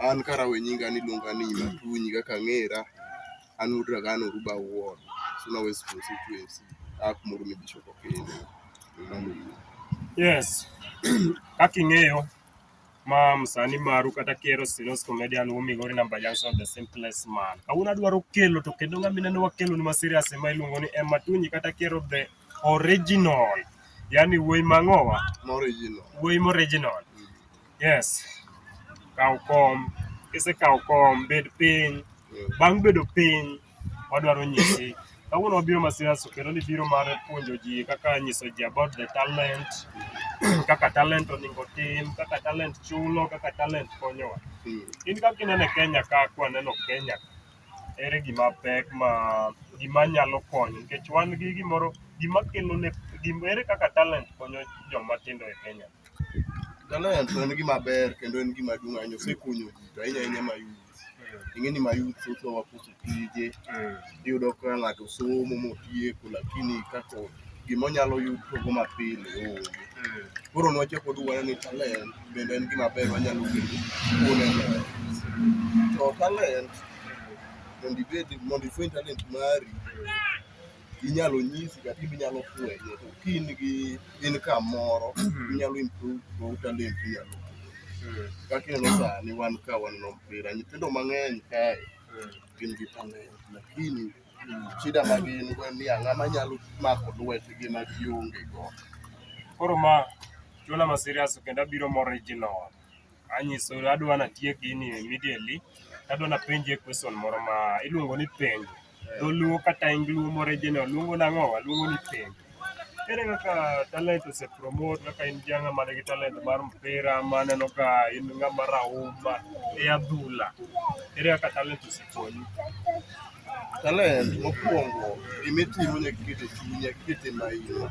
An karawo e nyinga ni iluonga ni Matunyi kaka ang'era, an wuod Ragana Oruba ward, Suna West constituency, aa kuma Oromia Bishop okendo. Mano e yo. Yes. Kaka ing'eyo, ma msani maru kata Kero Silos Comedian wumigo ni Namba Junction the simplest man. Kawuono adwaro kelo to kendo ng'ama ineno wakelo ni ma serious ema iluongo ni Emma Tunyi kata Kero the original. Yaani wuoyi mang'owa, Moro e yino. wuoyi mo original. Yes. Kaw kom. Kisekaw kom, bed piny. Bang' bedo piny, wadwaro nyisi. Kawuono wabiro Masiaso kendo ni biro mar puonjo ji kaka nyiso ji about the talent, kaka talent oningo tim, kaka talent chulo, kaka talent konyowa. In kaka ineno e Kenya ka kwaneno Kenya, ere gima pek ma gima nyalo konyo nikech wan gi gimoro gima kelo ne gima ere kaka talent konyo joma tindo e Kenya. Talent en gima ber kendo en gima duong' ahinya osekonyo ji to ahinya ahinya ma youth. Ing'e ni ma youth thothwa wakoso tije, iyudo ka ng'ato somo motieko lakini kako gimonyalo yudogo mapile onge. Koro nwachako waduogo waneno ni talent bende en gima ber wanyalo yudo kuone ber. To talent mondo ibed mondo ifweny talent mari inyalo nyisi kata in inyalo fwenye to ka in gi income moro inyalo improve go talent ni inyalo kaka ineno sani wan ka waneno mpira nyithindo mang'eny kae gin gi talent lakini shida ma gin go en ni ang'a manyalo mako lwetgi ma gionge go Koro ma chuola ma serious kendo abiro mo original. Anyiso adwa natiek gini immediately. Adwa napenjie question moro ma iluongo ni penjo. Dholuo kata Luo moriginal luongo nang'o? Waluongo ni penj. Ere kaka talent ose promote kaka in janga man gi talent mar mpira maneno ka in ng'ama rahuma e adhula. Ere kaka talent ose konyi? Talent mokwongo gima itimo nyaka iket e chunyi, nyaka iket e maino.